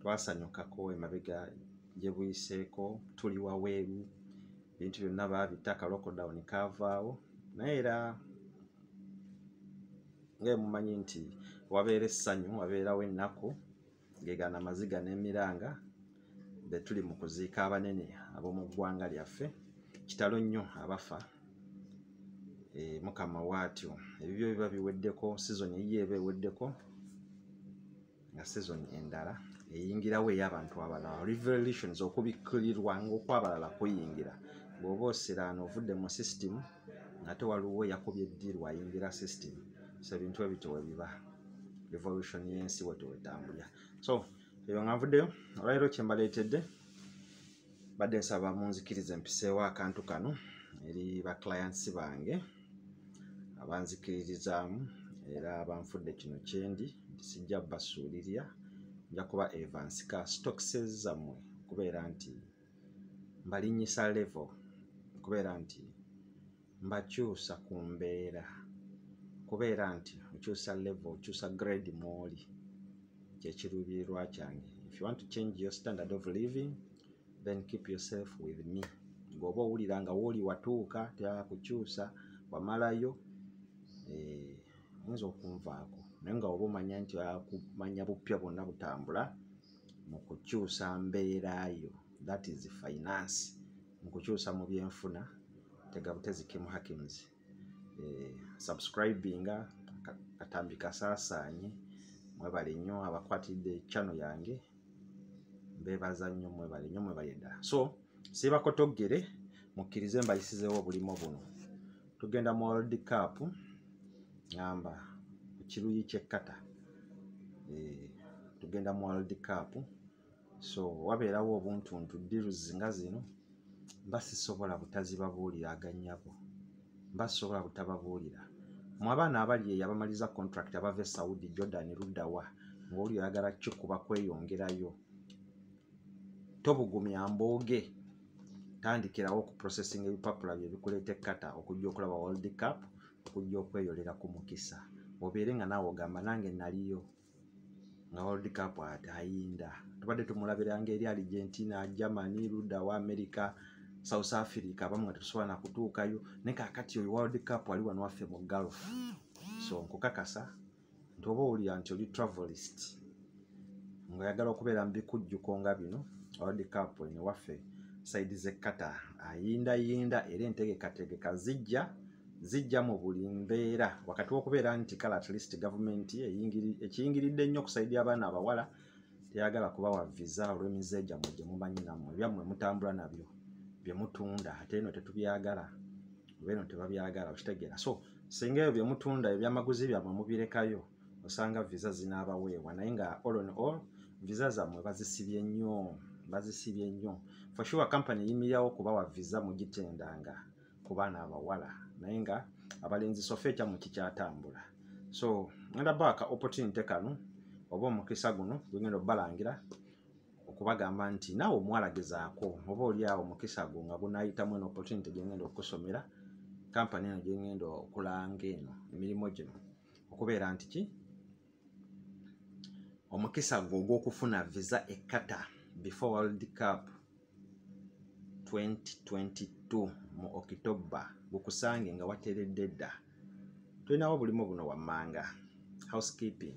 twasanyukako emabega gye buyiseeko tuli waweeru ebintu byonna baabita kalokodawuni kaavaawo naye era ngaemumanyi nti wabeera essanyu wabeerawo ennaku ngegana amaziga n'emiranga be tuli mu kuziika abanene ab'omu ggwanga lyaffe kitalo nnyo abafa e, mukama waatyo ebibyo biba biweddeko sizoni eyiyo eba eweddeko nga sezoni endala eyingirawo ey'abantu abalala revelations okubikkulirwa ngaokwabalala kuyingira bw'oba osiraana ovudde mu system ngate waliwo yakubye eddiirwa ayingira system so ebintu ebityo webiba revolution y'ensi wetwetambulira so eyo nga nvuddeyo olwaliro kyembaleetedde badde nsaba munzikirize mpiseewo akantu kano eri ba clients bange abanzikiririzaamu era abanfudde kino kyendi nti sijja basuulirira nja kuba evansika stokses zammwe okubeera nti mbalinnyisa level okubeera nti mbakyusa ku mbeera kubeera nti okyusa level okyusa grade mwoli kyekiruubirirwa kyange if you want to change your standard of living then keep yourself with me ng'oba owulira nga wooli watuuka teyala kukyusa wamalayo eh, oyinza okunvaako naye nga oba omanya nti akumanya bupya bwonna butambula mu kukyusa mbeera yo that is finance mu kukyusa mu byenfuna tegabutezi kim hakims eh, subscribinga katambi kasaasaanye mwebale nnyo abakwatidde chano yange mbebaza nnyo mwebale nnyo mwebale ddala so siibako toggere mukkirize mbayisizeewo obulimo buno tugenda mu world cup ngamba ku kiruyi kyekkata eh, tugenda mu world cup so wabeerawo obuntuntu deals nga zino mba sisobola butazibabuulira aganyabo mba sisobola butababuulira mu abaana abali eyo abamaliza contract abava e saudi jordan luddawa ngaoli oyagala kikuba kweyongerayo tobugumya mbooge tandikirawo ku processing ebipapula bye bikuleeta ekkata okujja okulaba world cup okujja okweyolera ku mukisa obeere nga naawe ogamba nange naliyo nga world cup ate ayinda tubadde tumulabira nga eri argentina germany luda wa america south africa abamu nga tetusobola nakutuukayo naye kakati oyo world cup wali wano waffe mu gulf so nkukakasa nti oba owulira nti oli travelist ngaayagala okubeera mu bikujjuko nga bino world cup eno waffe saidi zekata ayindayinda era entegekategeka zijja zijja mu buli mbeera wakati w'okubeera nti kale at least gavumenti ekiyingiridde ennyo okusaidi abaana abawala teyagala kubawa visa olw'emize gyammwe gye mumanyi nammwe ebyammwe mutambula nabyo bye mutunda ate eno tetubyagala beno tebabyagala okitegeera so singa ebyo byemutunda ebyamaguzi byamwe mubirekayo osanga visa zinaabaweebwa naye nga all on all visa zammwe bazisibye nnyo bazisibye nnyo for sure company eyimirawo kubawa visa mugitendanga ku baana abawala naye nga abalenzi sofa ekyamwe kikyatambula so ngenda baaka opportunity kano oba omukisa guno gwegenda obalangira okubagamba nti naawe omuwala gezaako oba oli awo mukisa gwo nga gunayitamu eno opportunity gyengenda okusomera kampani eno gyengenda okulanga eno emirimu gino okubeera nti ki omukisa gwo ogwokufuna visa ekata before world cup 2022 mu october gukusange nga wateredde dda tulinawo obulimu buno wammanga housekeeping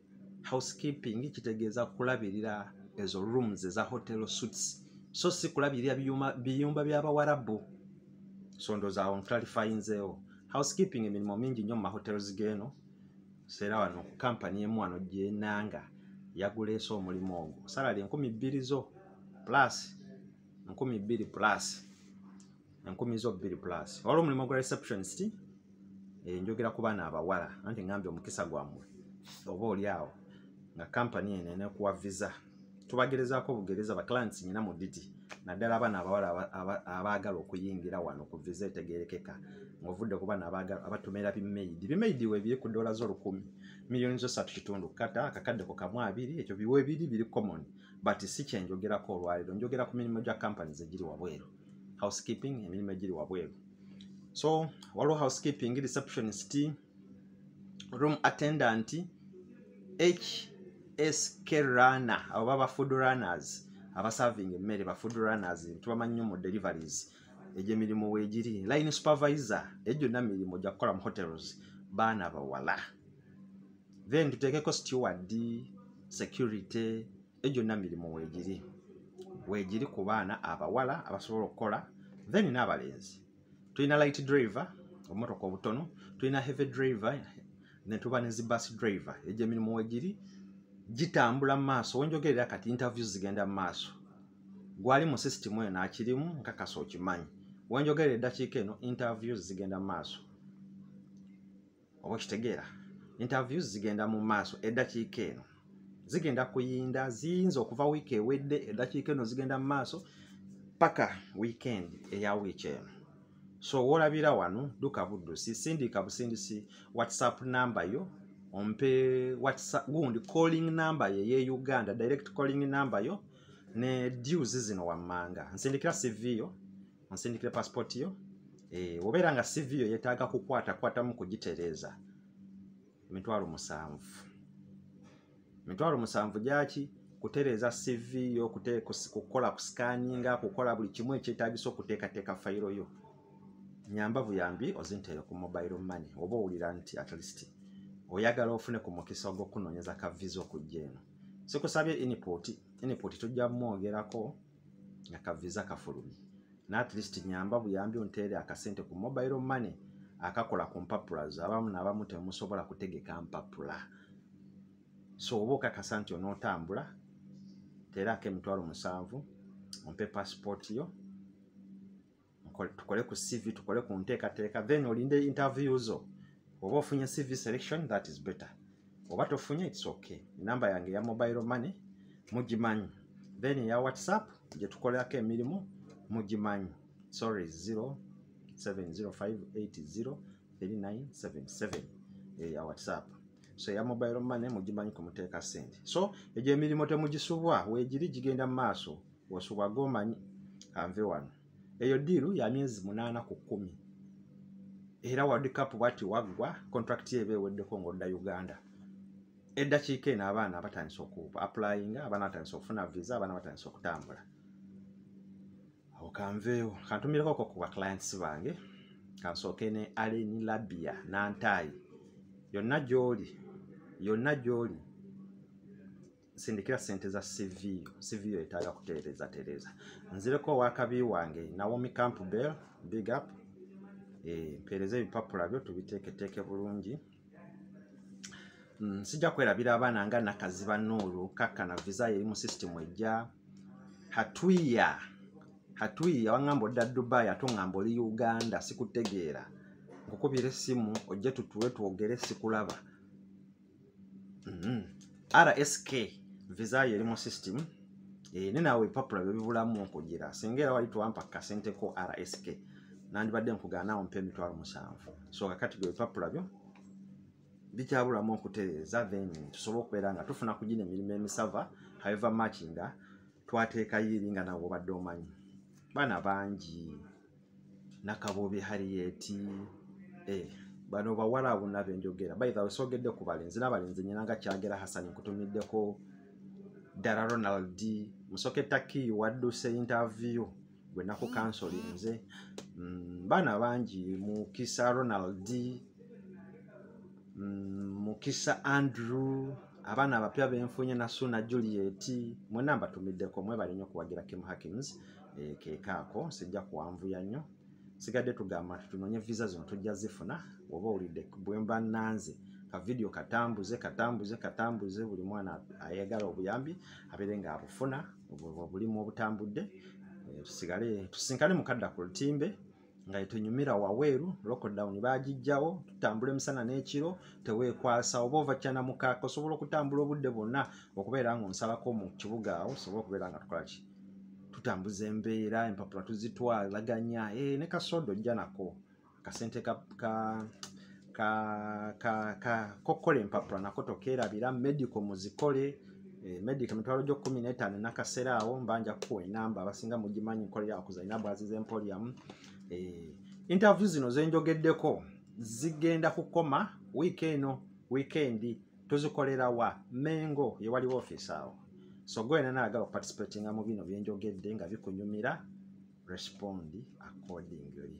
housekeeping kitegeeza kulabirira ezo rooms eza hotel suits so si kulabirira biyumba by'abawarabu so ndozaawo nclarifyinzeewo housekeeping emirimu mingi nnyo mu mahotels geeno seera wano kampani emu wano gyenanga yaguleese omulimu ogwo salary enkumi bbiri zo plus enkumi bbiri plus enkumi zo bbiri plus wala omulimu gwa receptionist eh, njogera ku baana abawala anti ngambye omukisa gwammwe oba oli awo nga kampani eno enekuwa visa tubagerezaako obugereza baclants nyina mu diti naddala abaana abawala abaagala okuyingira wano ku visa etegerekeka ngaovudde ku baana abatomera bimaidi bimaidi webiri ku dola zo lukumi miliyoni zo satu kitundu kata akakadde ku kamu abiri ekyo biwebiri biri common but si kyenjogerako olwaliro njogera ku mirimu gya kampani zegiri wabweru housekeeping emirimu egiri wabweru so waliwo housekeeping receptionist room attendant hsk runner abo baba food runners abaserving emmere ba food runners tubamanyi nyo mu deliveries egyo emirimu wegiri line supervisor egyo na mirimu gya kukola mu hotels baana bawala then tuteekeko steward security egyonna mirimu weegiri weegiri ku baana abawala abasobola okukola then n'abalenzi tulina light driver obumotoka obutono tulina heavy driver ne tuba ne zi bus driver egyo emirimu weegiri gitambula mu maaso wenjogerera kati interviews zigenda mu maaso gwali mu system eyo nakirimu nkakasa okimanyi wenjogerera eddakiika eno interviews zigenda mu maaso oba okitegeera interviews zigenda mu maaso eddakiika eno zigenda kuyinda ziyinza okuva wiiki ewedde eddakiika eno zigenda mu maaso paka weekend eya wiiki eno so wolabira wano duka buddusi sindika busindisi whatsapp namba yo ompe whatsapp gundi calling namba ye ye uganda direct calling namba yo ne dues zino wammanga nsindikira cv yo onsindikire passport yo eh, obeera nga cv yo yetaaga kukwatakwatamu kugitereeza emitwalo musanvu emitwalo musanvu gyaki kutereeza cv yo kukola ku scanninga kukola buli kimu ekyetagisa okuteekateeka fayiro yo nyamba buyambi ozinteere ku mobile money oba owulira nti at least oyagala ofune ku mukisa ogwokunoonyeza ka visa okujja eno sikusabye input input tujja mwogerako nga ka visa kafulumye natlist nyamba buyambi onteere akasente ku mobile money akakola ku mpapula zo abamu naabamu temusobola kutegeka mpapula so oba okakasa nti onootambula teeraako emitwalo musanvu ompe passport yo tukole ku cv tukole ku nteekateeka then olinde interview zo oba ofunye cv selection that is better oba tofunye its okay enamba yange ya mobile money mugimanyi then eya whatsapp gyetukolerako emirimu mugimanyi sorry 0705803977 eya whatsapp so eya mobile money mugimanyi kumuteeka sente so egyo emirimu temugisubwa wegiri gigenda mu maaso bwosubwa gomanyi kanve wano eyo diiru ya myezi munaana ku kkumi era world cup bwati waggwa contract eba eweddeko ngaodda uganda eddakiika eno abaana batandise okuapplyinga abaana batandise okufuna visa abaana batandise okutambula awo kanveewo kantumireko ko ku baclients bange kansooke ne aleni labia nantaayi yonna gyoli yonna gyoli sindikira sente za CV CV yo etaga kutereza tereza nzire ko wakabi wange Naomi Campbell big up eh pereze bipapula byo tubiteke teke bulungi mm, sija kwera bila abana nga nakaziba nuru kaka na visa ye mu system eja hatuya hatuya wangambo da Dubai atungambo li Uganda sikutegera ngukubire simu oje tutuwe tuogere sikulaba mm-hmm. rsk visa yo eri mu system eh, ne naawe ebipapula byo bibulamu okugira singa era wali twampa kasente ko rsk nandibadde nkugaanaawo mpa emitwalo musanvu so kakati gwe ebipapula byo bikyabulamu okutereeza then tusobola okubeera nga tufuna ku gino emirimu emisava haiva mach nga twateekayo eri nga nawe obadde omanyi baana bangi nakabuubi hariyeti eh, bano bawala abona benjogera baithawe sogedde ku balenzi nabalenzi nyina nga kyagera hasani nkutumiddeko ddala ronald musoke taki wadduse interview gwe naku kansoli nze mm, baana bangi mukisa ronald mm, mukisa andrew abaana abapya benfunye nasuna juliet mwena mbatumiddeko mwebalinyo okuwagira kim hackings eh, kekaako sijja kuwanvuya nnyo sigadde tugamba nti tunonye visa zino tujja zifuna oba owulidde bwemba nanze kavidiyo katambuze katambuze katambuze buli mwana ayagala obuyambi abeere nga abufuna obulimu obutambudde eh, tusigale tusinkane mukadda ku lutimbe nga etunyumira waweeru lockdown bagijjawo tutambula emisana n'ekiro teweekwasa oba ova kyana mukaaka osobola okutambula obudde bwonna okubeera nga onsalako mu kibuga awo osobola okubeera nga tukola ki tutambuza embeera empapula tuzitwalaganya eh, ne kasooda ojja nako kasente ka, ka ka ka ka kokola empapula nako tokerabira medical muzikole eh, medic emitwalo gyo kumi n'etaano enakaseera awo mbanja kuwa enamba abasinga mugimanyi nkolera okuzalina bwazi z'emporiamu eh, interview zino zenjogeddeko zigenda kukoma wiiki eno wiikendi tuzikolera wa mengo yewaliwo ofiisi awo so gwena naagala okuparticipatinga mu bino byenjogedde nga bikunyumira respond accordingly